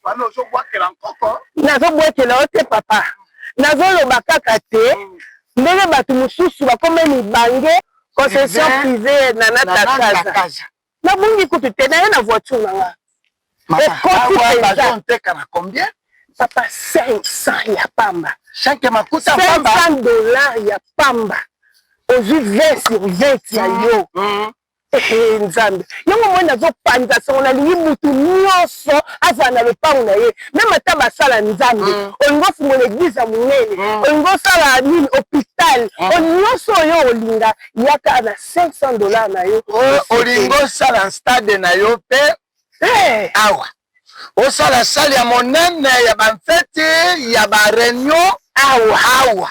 wana ozobwakela nkoko nazobwakela yo te papa nazoloba kaka te ndenge bato mosusu bakoma mibange concession privée na natakaza nabungi kutu te naye na voiture na nga ekotiteka na combien papa 500 ya pamba 500 dollar ya pamba ozwi 20 sur 20 ya yo mm, mm. Hey, nzambe yango moi nazopanza songo nalingi mutu nyonso azala na lopango na ye meme ata basala nzambe mm. olingi ofungola eglize ya monene mm. olingi osala nini hopital mm. o nyonso oyo olinga yaka na 500 dollar na yo olingi osala stade na yo mpe hey. Eh. awa osala sale ya monene ya bamfeti ya bareunion awa awa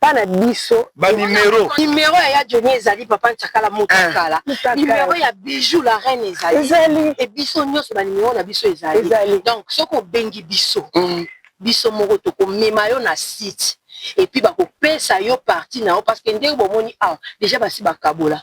pa na biso ba numero numero ya ya Johnny ezali papa Nchakala Mutakala numero ya Bijou la reine ezali ezali et biso nionso ba numero na biso ezali ezali donc soki obengi biso biso moko toko mema yo na site et puis bako pesa yo partie na yo parce que ndenge bomoni awa dejà basi bakabola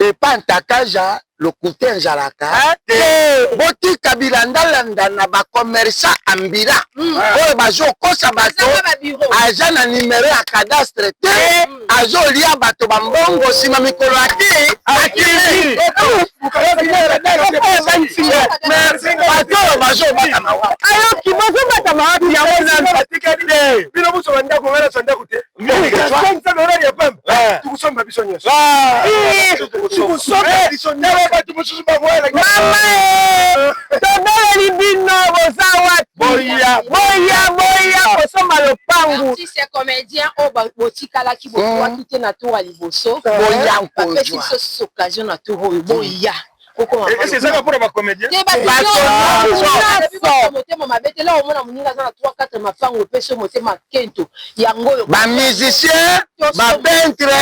epa ntakaja lokuta enjalaka te botika bilandalanda na ba commerçant ambila mm. oyo bazokosa bato aza na numero ya cadastre te mm. azolia bato bambongo nsima mikolo ya te bato oyo bazobatama wapi ayoki bazobatama wapi yango nanu batikali te bino bosoba ndako ngana sa ndako te tukusomba biso nyonso tukusomba biso nyonso bato mosusu baboyela tobeleli bino boza wapi boya boya boya kosomba lopangu artiste comédien oyo oh, botikalaki bokoaki te na tour ya liboso boya mpesi biso occasion na tour oyo boya esi ezaka mpona bacomédien motema mabe te laa omona moninga aza na 3 4 mafango epesi motema kento yango oyo bamusicien bapentre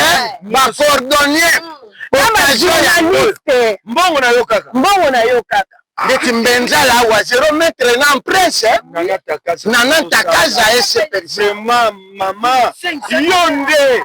bacordonnier mbongo na yo kaka mbongo na yo kaka ndeti mbenza la wa zero metre na presse nana takaza ese mama yo nde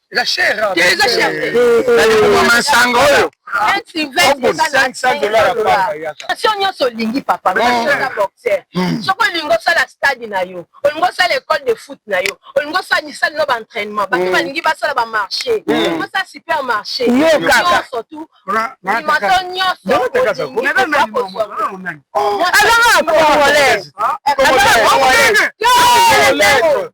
eza cher eza cher nalingoma nsango oyo station nyonso olingi papa oza boxer soki olingi osala stade na yo olingi osala école de foot na yo olingi osala misali no baentrainement bato mm. balingi basala bamarché mm. olingi osala supermarché nyonso tu limato nyonso olingi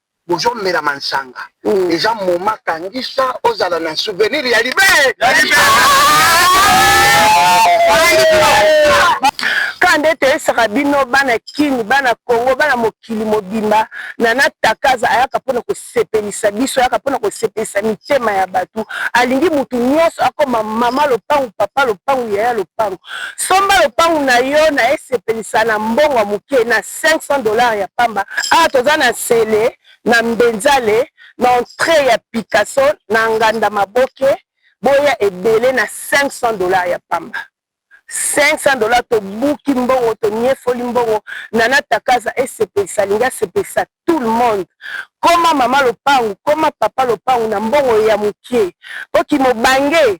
bozo mela mansanga eza moment kangisa ozala na souvenir ya libe Kaka nde toyesaka bino bana kin, bana congo, bana mokili mobimba nana takaza ayaka pona kosepelisa biso ayaka pona kosepelisa mitema ya batu alingi mutu nionso akoma maman lopangu, papa lopangu, yaya lopangu somba lopangu nayo naye sepelisa na mbongo ya muke na 500 dollars ya pamba awa toza na sele na mbenzale na entree ya picasso na nganda maboke boya ebele na 500 dollars ya pamba 500 dollars tobuki mbongo toniefoli mbongo nana takaza esepelisa alingi asepelisa tout le monde koma mama lopangu koma papa lopangu na mbongo ya mokie po kimobange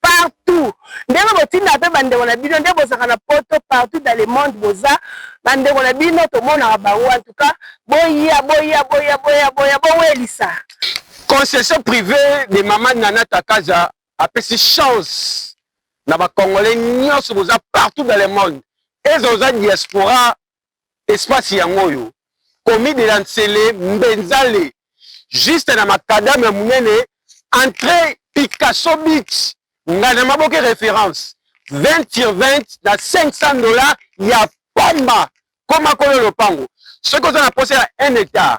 partout ndenge botindaka mpe bandeko na bino nde bozalaka na poto partout dans le monde boza bandeko na bino tomonaka bango en tout cas boya boya boya boya boya bowelisa concession privée de mama nana takaza apesi chance na bacongolais nyonso boza partout dans le monde eza oza diaspora espace yango oyo komi de la nsele mbenzale juste na makadame ya monene entre picasso beach nga na maboke référence 20 sur 20 na 500 dollars ya pamba koma kolo lopango soki oza na posa ya un hectare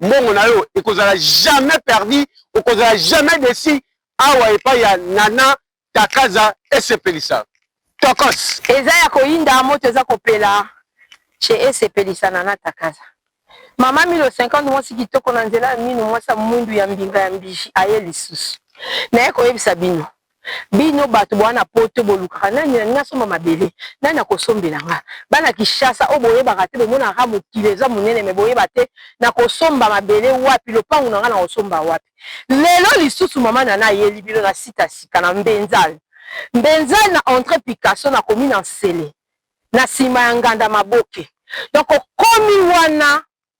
mbongo na yo ekozala jamais perdu okozala jamais desi awa epai ya nana takaza esepelisa tokos eza ya koyinda moto eza kopela chez esepelisa nana takaza mama milo 50 mwasi kitoko na nzela ya mino mwasi ya mwindu ya mbinga ya mbiji aye lisusu naye koyebisa bino bino bato boa na poto bolukaka nani nani nasomba mabele nani akosombela nga bana kishasa oyo boyebaka te bomonaka kaka mokili eza monene me boyeba te nakosomba mabele wapi lopango na nga nakosomba wapi lelo lisusu mama na nayeli bino na sita sika na mbenzal mbenzal na entre picasso na komi na nsele na nsima ya nganda maboke donc okomi wana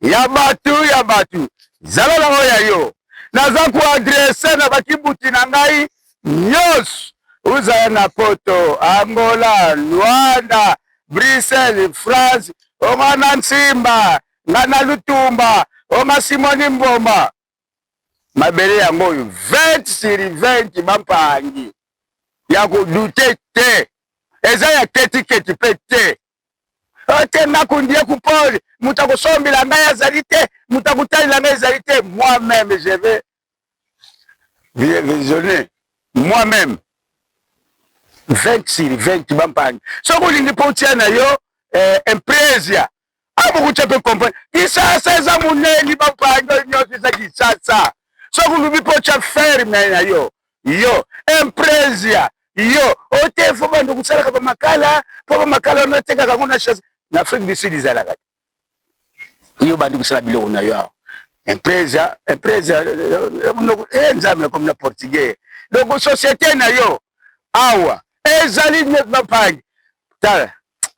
ya batu ya batu zala na oyo ya yo naza koadrese na bakibuti na ngai nyonso uzala na poto angola luanda bruxelles france onga na nsimba nga na lutumba onga simoni mboma mabele yango oyo 20 sur 20 bapangi ya kodute te eza ya ketiketi mpe te te nakundie kupoli moto akosombela ngai azali te moto akotalela ngai ezali te moi meme je vais visionner moi meme 20 sur 20 bampangi soki olingi mpo otia na yo eh, impresia a bokuta ko comprendre kisasa eza moneli bapando nyonso eza kisasa soki olubi mpo otya ferme na yo yo impresia yo ote fo bando kosalaka bamakala mpo bamakala wana otekaka yango na chasse na afrique du sud ezalaka te yo bandi kosala biloko na yo awa impresia impresia e nzambe nakomi na portugais donc société na yo awa ezali bapangi tala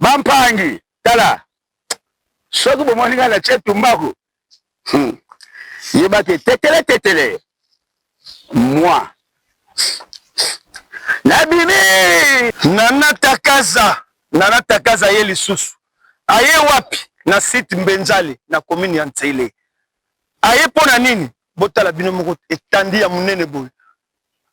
bampangi tala soki bomoni ngai natie tumbaku hmm. yebaki tetele tetele mwa nabimi nanatakaza nanatakaza ye lisusu aye wapi na site mbenzali na komini ya nsele aye mpo na nini botala bino moko etandi ya monene boye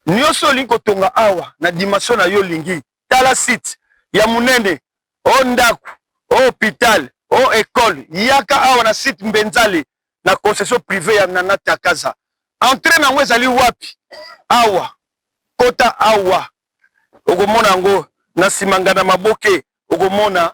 nyonso olingi kotonga awa na dimension na yo olingi tala site ya munene o ndaku o hopital o ecole yaka awa na site mbenzale na concession prive ya nana takaza entre nango ezali wapi awa kota awa okomona yango na nsima ngana maboke okomona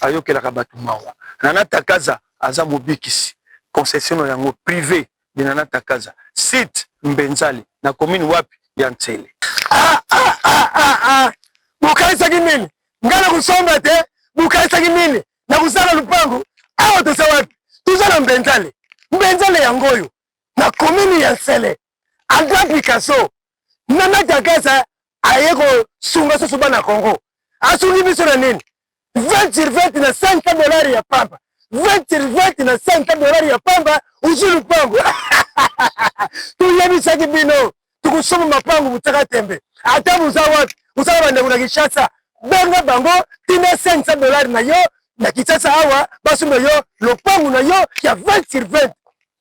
ayokelaka batu mawa nana takaza aza mobikisi concessiono yango prive de nana takaza site mbenzali na commune wapi ya nsele. Ah ah ah ah ah bokanisaki nini nga na kosomba te bokanisaki nini na kosala lupangu awa toza wapi toza na mbenzale mbenzale yango oyo na commune ya nsele Andra Picasso na Madagascar aye kosunga susu bana Congo. Asungi biso na nini? 20 sur 20 na 5 dollars ya pamba. 20 sur 20 na 5 dollars ya pamba uzu lupango. Tuyebisaki bino tukusoma mapangu butaka tembe. Ata buza wapi? Buza banda kuna Kinshasa. Benga bango tina 500 dollars na yo na Kinshasa awa basomba yo lopangu na yo ya 20 sur 20.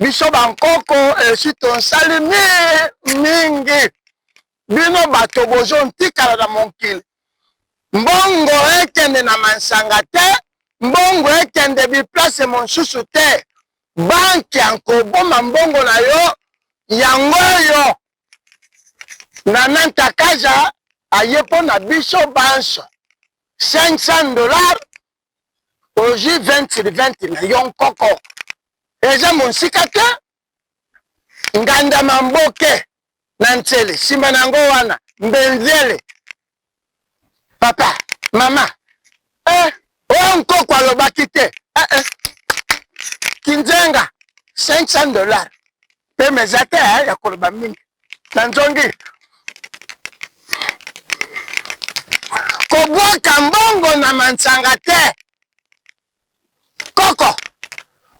biso bankoko esi tonsali mingi mingi bino bato bozontikala na mokili mbongo ekende na mansanga te mbongo ekende biplace mosusu te banki yankoboma mbongo na yo yango oyo na nantakaza aye mpo na biso banso 500 dollars ozwi 20 sur 20 na yo nkoko eza monsika te nganda mamboke na nsele nsima na yango wana mbenzele papa mama eh, oyo nkoko alobaki te eh, eh. kinzenga 500 dollars Pema eza te eh, ya koloba mingi na nzongi kobwaka mbongo na mansanga te koko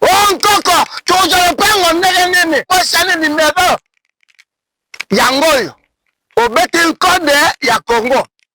o oh, nkoko tokozwa lopango ndenge nini osani nimero yango oyo obeti nkode ya kongo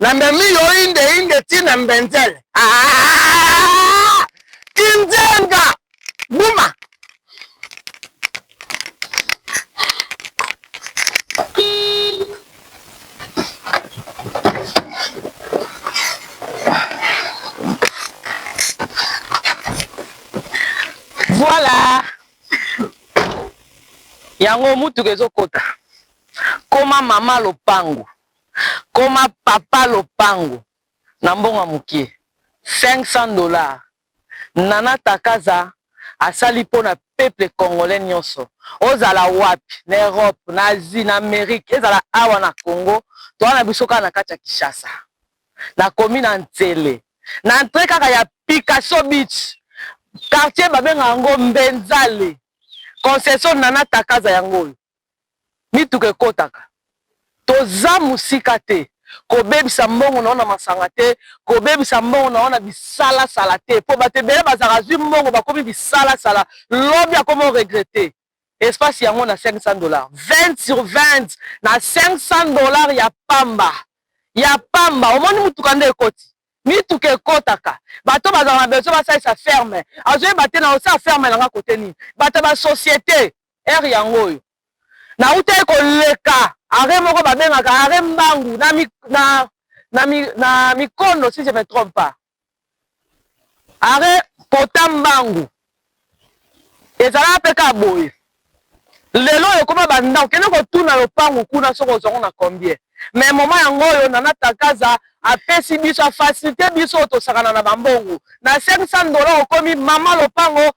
na memi yo inde inde ti na mbenzele ah! kinzenga buma voilà yango motuka ezokota koma mama lopango koma papa lopango na mbongo ya mukie 500 dollars nana takaza asali pona peuple congolais nionso ozala wapi na Europe na Asie na Amerique ezala awa na Congo toza na biso kaka na kati ya Kinshasa na komi na nsele na entre kaka ya Picasso beach quartier babenga yango mbenzale concession nana takaza yango oyo mituka ekotaka toza musika te kobebisa mbongo nao na masanga te kobebisa mbongo nao na bisalasala te po bato ebele bazalaka azwi mbongo bakomi bisalasala lobi akomi oregrete espace yango na 500 dollars 20 sur 20 na 500 dollars ya pamba ya pamba omoni motuka nde ekoti mituka ekotaka bato bazalaka na besoin basalisa ferme azoyeba te na osala ferme nanga kote nini bato ya basociete heure yango oyo nautaki koleka arret moko babengaka arret mbangu na, mi, na, na, mi, na mikondo si je me trompe pas arret pota mbangu ezalaka mpe kaka boye lelo oyo ekoma bandako kende kotuna lopangu kuna soki ozwango na combien me moma yango oyo nana takaza apesi biso afasilite biso oyo tosakana na bambongo na 500 dola okomi mama lopango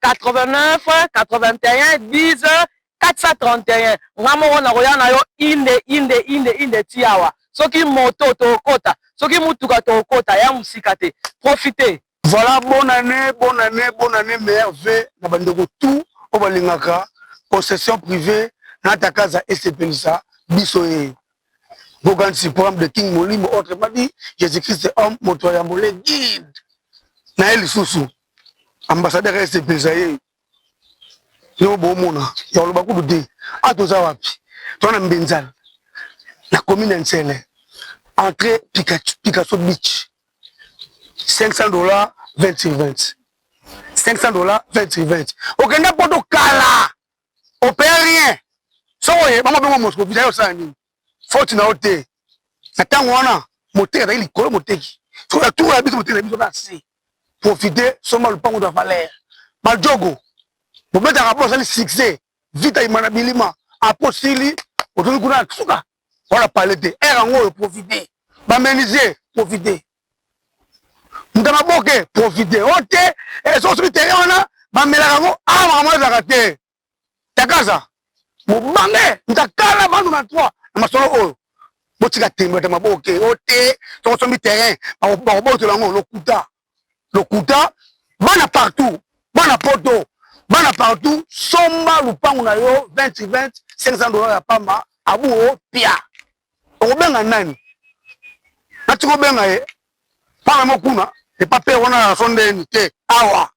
89 81 10 431 nga moko nakoya na yo inde inde inde inde ti awa soki moto tokokota soki motuka tokokota ya mosika te profite voilà bonne année bonne année bonne année meilleur v na bandeko tout oyo balingaka possession privée na takaza esepelisa biso ye bokanisi programme de king molimo autrement dit jésus christ homme moto ya yambo le guide na ye lisusu ambassadeur ya SDPS ye yo bomona ya koloba kutu te a toza wapi toza na mbenzala na commune ya nsele entre picasso beach 500 dollars 20 sur 20 500 dollars 20 sur 20 okenda poto kala opeye rien soki oye bango bengo moscovita yo osala nini faute na yo te na ntango wana moteki azali likolo moteki soki na tour ya biso moteki na biso na se profite somba lopango da valeur majogo bobetaka po asali succès vita ima na bilima apo sili otoki kuna na suka wana pale te ere yango oyo profite bamenise profite mutana boke profite o te eh, soki soki tere wana bamelaka yango awa makambo ezalaka te takaza bobange ntakala bandu na toi na masolo oyo botika tembo ya maboke o oh, te soko sombi terrain bakobotola yango lokuta lokuta bana partout bana poto bana partout somba lupangu na yo 20 20 500 dollars ya pamba abu o oh, pia okobenga nani nati kobenga ye panga mokuna epa pe wana ya sondeni te awa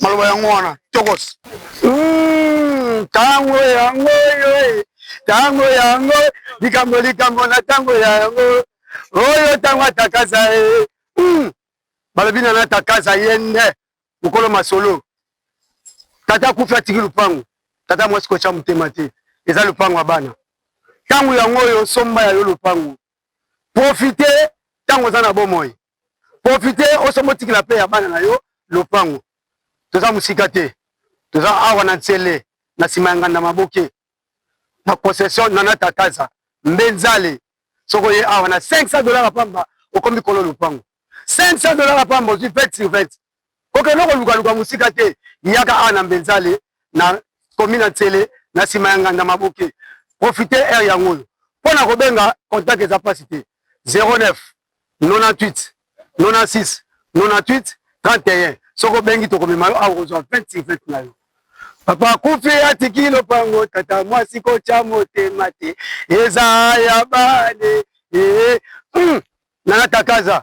maloba yango wana tokos ntango hmm, yango oyo ntango yango likambo likambo na ntango ya yango oyo ntango atakasa ye eh, hmm. balobi na natakasa ye nde mokolo masolo tata akufi atiki lupango tata mwasi kotya motema te eza lupango ya bana ntango yango oyo somba ya yo lupango profite ntango oza na bomoi profite oso motikela mpe ya bana na yo lopango toza mosika te toza awa na nsele na nsima ya nganda maboke na concession nana tataza mbe nzale soki oye awa na 500 dollars pamba okomi kolo lopango 500 dollars pamba ozwi 20 sur 20 Kokende kolukaluka mosika te, yaka awa na Mbenzale na komi na Nsele na nsima ya Nganda Maboke. Profite heure yango oyo mpo na kobenga contact eza mpasi te 09 98 96 98 31 soki obengi tokomema yo awa kozwa 20 sur 20 na yo papa kufi atiki lopango tata mwasi kotya motema te eza ya bane ee eh, eh. hmm. nana takaza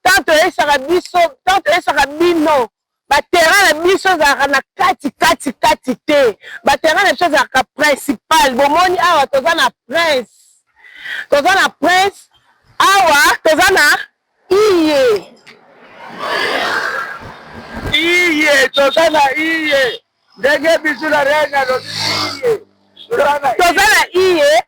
ntango toyesaka biso ntango toyesaka bino baterrain na biso ezalaka na kati kati kati te baterrain na biso ezalaka principal bomoni awa toza na prince toza na prince awa toza na iye iye toza na iye ndenge bisu na rene alobi iye toza na iye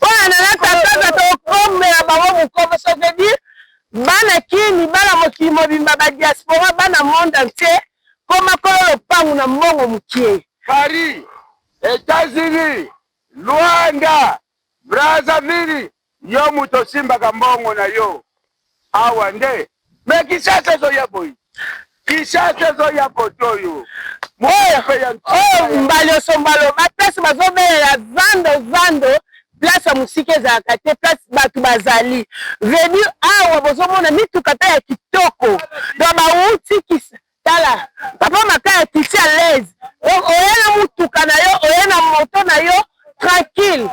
Pona nanga tata za to kombela bango mukomo ça veut dire bana kin libala mokili mobimba ba diaspora bana monde entier koma kolo lopangu na mbongo mukie. Paris, Etats Unis, Luanda, Brazzaville yo mutu osimbaka mbongo na yo Awa nde mais Kinshasa ezo ya boyi Kinshasa ezo ya koto oyo oyo mbalioso mbalo ba place bazo belela zando zando place ya musika ezalaka te place bato bazali vedi awa bozomona mituka mpe ya kitoko do bawuti kisa tala papa makaya kisi alaise donc oye na mutuka na yo oye na moto na yo tranquille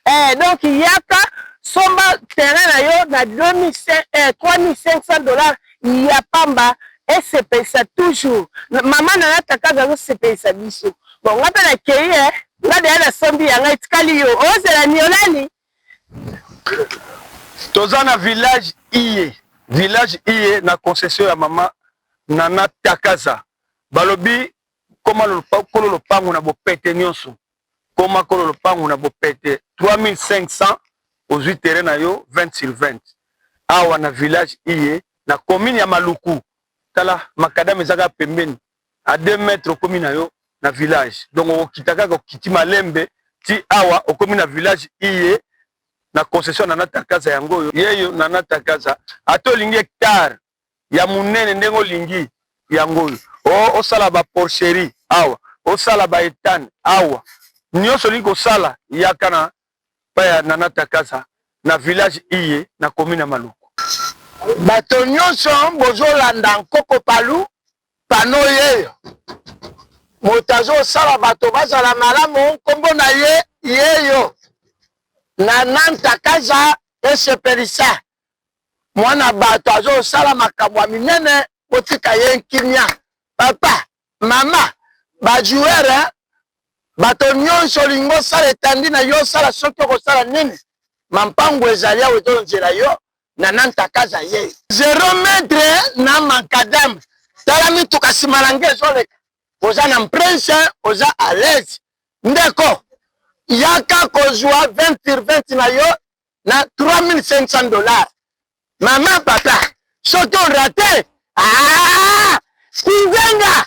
Eh donc yaka somba terrain na yo na 3500 dollars ya pamba esepelisa toujours maman na na kakabi azo sepelisa biso bon nga pe na keyi eh nga deya na sombi yanga etikali yo ozela niolani toza na village iye village iye na concession ya mama nana takaza balobi koma kolo lopango na bopete nyonso koma kolo lopangu na bopete 3500 ozui terrain na yo 20 sur 20 awa na village iye na commune ya maluku tala makadame eza kaka pembeni a 2 mètres okomi na yo na village donc okokita kaka okiti malembe ti awa okomi na village iye na concession nana takaza yango oyo yeyo nana takaza ata olingi hectare ya munene ndenge olingi yango oyo oh osala ba porcherie awa osala ba etane awa nionso olingi kosala yaka na pa ya nana takaza na village iye na commune ya maluku bato nionso bozolanda nkoko palu pano yeyo moto azosala bato bazala malamu nkombo na ye yeyo nana ntakaza esepelisa mwana bato azosala makambo ya minene botika ye nkimia papa mama bajoueur eh? bato nyonso olingi osala etandi na yo osala soki okosala nini mampangu ezali awa ezonzela yo na nantakaza ye zero metre eh? na makadame tala mituka nsima na nge ezoleka oza na mprince eh? oza alaise ndeko yaka kozwa 20 sur 20 na yo na 3500 dollars mama papa soki orate ah, kinzenga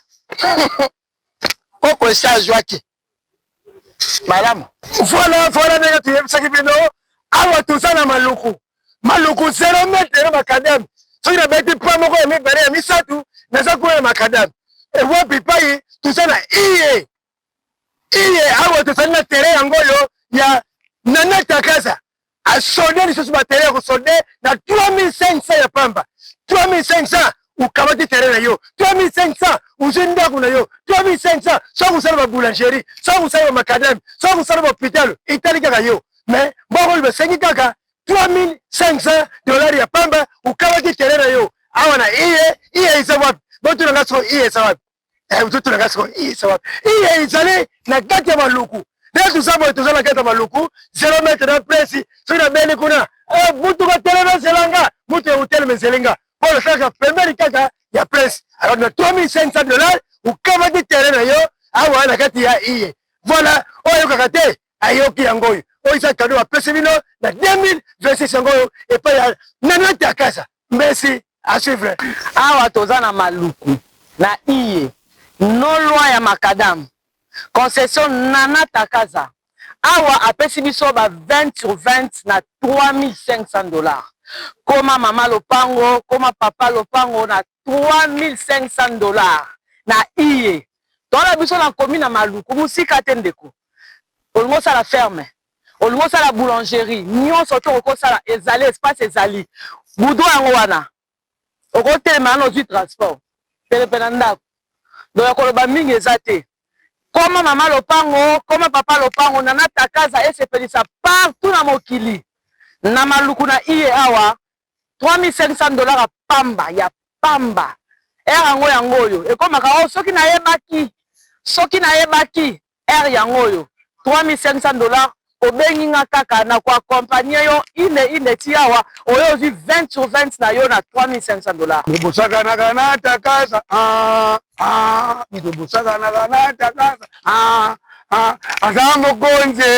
koko esi azwaki malamu vola vola ndenge toyebisaki bino awa toza na maluku maluku 0 metre ya makadame soki nabeti pa moko ya mibale ya misato naza kuna ya makadame ewapi pai toza na iye iye awa tozali na terrain yango oyo ya nana takaza asode lisusu batere ya kosode na 3500 ya pamba 3500 ukamati terrain na yo 3500 uzwi ndako na yo 3500 soki osala baboulangerie soki osala bamakadame soki osala bahopitalo etali kaka yo mais bokoli basengi kaka 3500 dollar ya pamba ukamati terrain na yo awa na iye iye eza wapi botuna nga soko iye eza wapi eh, ozoto na ngai sikoyo isa wapi iye ezali na kati ya maluku nde toza boye toza na kati ya maluku zero metre na presi soki nabeli kuna eh, mutu batelema ezela nga mutu ya hotelema ezeli nga mpo nasalaka pembeni kaka ya presi alors na 3500 dollars okamati terrain na yo awa na kati ya iye voilà oyo ayokaka te ayoki yango oyo oyo eza kado bapesi bino na 2026 yango oyo epai ya nanate ya kasa mbesi asivre awa toza na maluku na iye no loi ya makadamu concession nana takaza awa apesi biso ba 20 sur 20 na 3500 dollars koma mama lopango koma papa lopango na 3500 dollars na iye toala biso na komi na maluku mosika te ndeko olingi osala ferme olingi osala boulangerie nionso oki okoki osala ezali espace ezali goudron yango wana okotelema wana ozwi transport penepe na ndako donc ya koloba mingi eza te koma mama lopango koma papa lopango nana takaza esepelisa partout na mokili na maluku na iye awa 3500 dollars ya pamba ya pamba heure yango yango oyo ekomaka o oh, soki nayebaki soki nayebaki heure yango oyo 3500 dollars obengi nga kaka na koakompagne yo ine ine ti awa oyo ozwi 20 sur 20 na yo na 3500 dollars bobosakanaka na takasa ah, ah, bobosakanaka na takasa ah, ah, aza mokonzi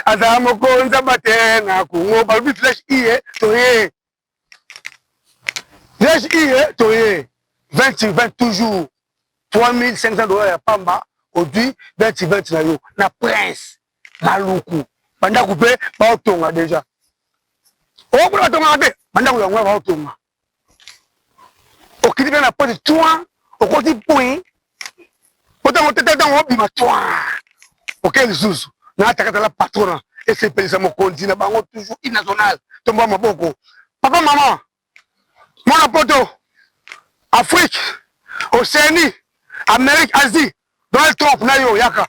aza mokonzi abate na kongo balobi flèche iye toye flèche iye toye 20 sur 20 toujours 3500 dollars ya pamba odui 20 sur 20 na yo na prince maluku bandako mpe baotonga deja okuna batongaka te bandako yango ya baotonga okiti mpe na poti twa okoti pui otango tete ntango obima twa oke lisusu na atakatala patrona esepelisa mokonzi na bango toujours inational tomboa maboko papa mama mwana poto afrique océanie amérique asie donald trump na yo yaka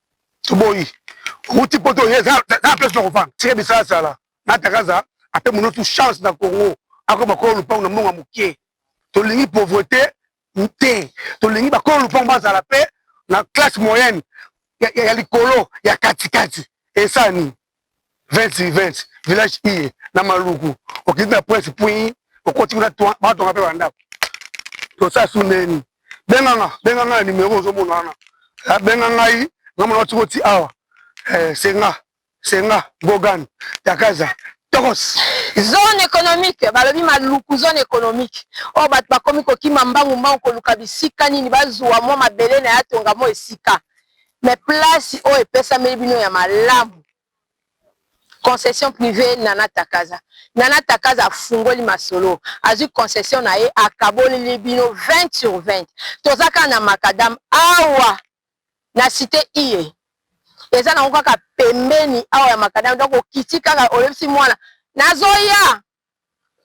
toboyi owuti poto oye eza na place na kofanda tika bisalasala natakaza ape monotu chance na congo akoma kolo lupango na mbongo ya moke tolingi pauvreté te tolingi bakolo lupango bazala mpe na classe moyenne ya, ya, ya likolo ya katikati esani 20 sur 20 village iye na maluku okiti na prince puis okoti kuna batonga mpe bandako tosala su ndeni benganga benga ngai na numero ozomona wana ah, benga ngai namona otiki oti awa eh, senga senga gogan takaza tokos zone économique balobi maluku zone économique oyo oh, bato bakomi kokima mbangu mbangu koluka bisika nini bazwa mwa mabele na ya tonga mo esika Mais place oyo epesameli bino ya malamu concession privée Nana Takaza. Nana Takaza afungoli masolo, azwi concession na ye, akaboleli bino 20 sur 20. Toza kaka na macadam awa na cite iye, eza nango kaka pembeni awa ya macadam, donc okiti kaka oyebisi mwana nazoya,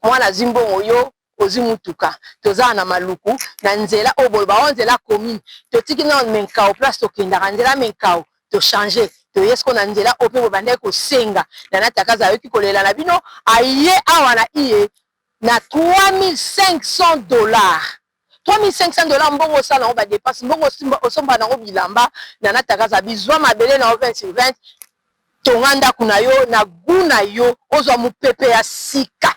Mwana azwi mbongo yo ozwi mutuka toza awa na maluku na nzela oyo boloba oh nzela commune totiki nao menkao place tokendaka nzela menkao to change toye sikoyo na nzela oyo mpe bobandaki kosenga nana takaza ayoki kolela na bino aye awa na iye na 3500 dollars 3500 dollars mbongo osala nango ba depenses mbongo osomba nango bilamba nana takazabi zwa mabele na yo 20 sur 20 tonga ndako na yo na gout na yo ozwa mopepe ya sika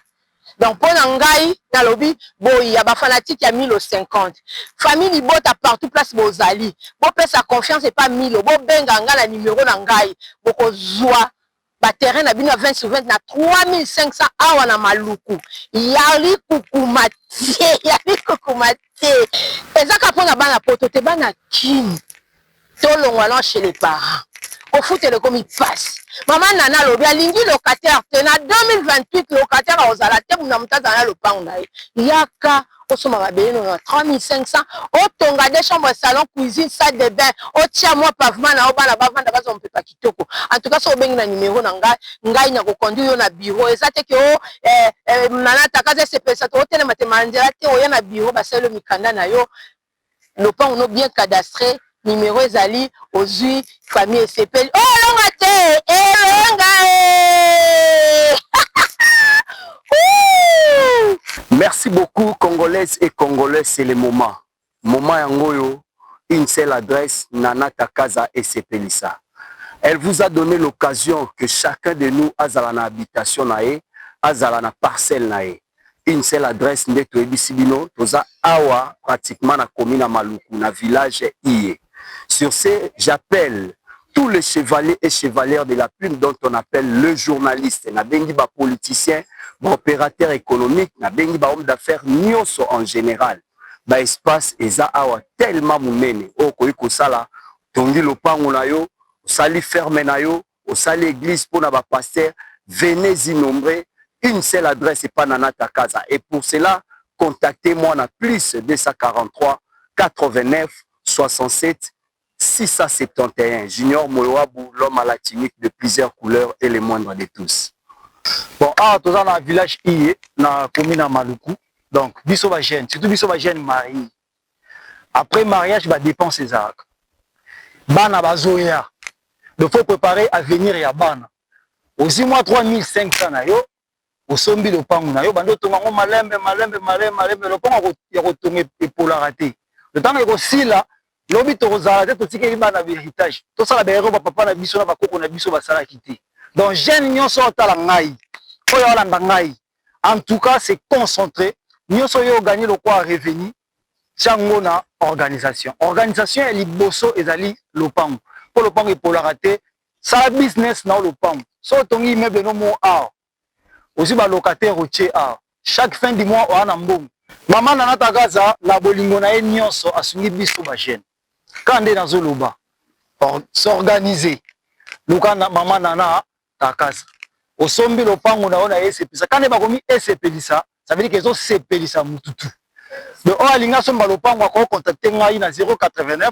donc mpo na ngai nalobi boyi ya bafanatike ya milo 50 famille libota partout place bozali bopesa confiance epa milo bobenga ngai na numero na ngai bokozwa ba terrain na bino ya 20 sur 20 na 3500 awa na maluku yali kukuma te yali kukuma te ezaka mpo na bana poto te bana kin tolongwa na chez les parents kofutela ekomi pasi mama nana alobi alingi locataire te na 2028 locataire akozala te muna moto azala na lopango na ye yaka osomba mabele nono na 3500 otonga de chambre salon cuisine salle de bain otia mwa pavement na yo bana bavanda bazwa mopepa kitoko en tout cas soki obengi na numero na ngai ngai na ko conduire yo na bureau eza te ke o oh, eh, eh, nana takaza esepelisa te otelema te ma nzela te oya na bureau basali yo mikanda na yo lopango no bien cadastre numero ezali ozwi famille esepeli olonga oh, te elonga eh, eh. merci beaucoup congolaise et congolais c'est le moment Moment yango oyo une seule adresse Nana Takaza esepelisa elle vous a donne l'occasion que chacun de nous azala na habitation na ye azala na parcelle na ye une seule adresse nde toyebisi bino toza awa pratiquement na commune ya Maluku na village iye sur ce j'appelle tous les chevaliers et chevalières de la plume dont on appelle le journaliste nabengi ba politiciens ba opérateurs économiques nabengi ba hommes d'affaires nionso en général ba espace eza awa tellement munene oyo okoki kosala otongi lopango na yo osali ferme na yo osali eglise mpona ba pasteur venez y nombre une seule adresse epa nana takaza et pour cela contacte moi na plus 243 89 67 671 junior moyoabu l'homme à la tunique de plusieurs couleurs et le moindre de tous bon awa toza na village iye na komi na maluku donc biso ba jeune surtout biso ba jeune marie après mariage ba dépense ezalaka bana bazoya donc faut préparer avenir ya bana ozwi mwa 3500 na yo osombi lopango na yo obandi otonga yango malembe malembe malembe malembe lopango ya kotonga epolaka te ntango ekosila lobi tokozala te totikeli bana ba heritage tosala baero bapapa na biso na bakoko na biso basalaki te donc jeune nyonso otala ngai oyo alanda ngai en tout cas c'est concentré nyonso oyo oganye lokwa revenu tiango na organisation organisation ya liboso ezali lopango mpo lopango epolaka te Sala business na yo lopangu. Soki otongi immeuble no moko awa, ozwi ba locataires otie awa, chaque fin du mois oya na mbongo. Maman Nana Tagaza na bolingo na ye nionso asungi biso ba jeunes. Kaka nde nazo loba, s'organiser. Luka maman Nana Tagaza. Osombi lopangu na yo na esepelisa. Kaka nde bakomi esepelisa, ça veut dire que ezo sepelisa mutu tout. Donc oyo alingi asomba lopangu ako contacter ngai na 089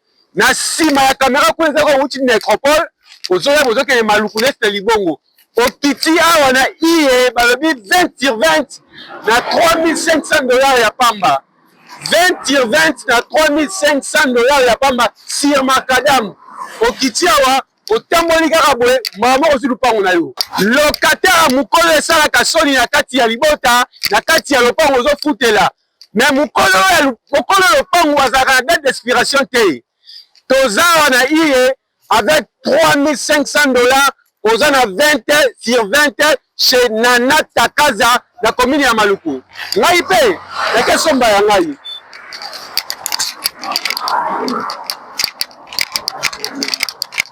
na sima ya camera kuna eza kouti necropole ozoya bozokende maluku neste libongo okiti awa na iye balobi 20 sur 20 na 3500 dollars ya pamba 20 sur 20 na 3500 dollars ya pamba sur macadam okiti awa otamboli kaka boye mbala moko ozwi lupango na yo lokatera mokolo esalaka soni na kati ya libota na kati ya lopango ozofutela me mokolo oyo mokolo lopangu azalaka na date d'expiration te toza awa na iye avec 3500 dollars oza na 20 sur 20 chez nana takaza na commune ya maluku ngai mpe nake somba ya ngai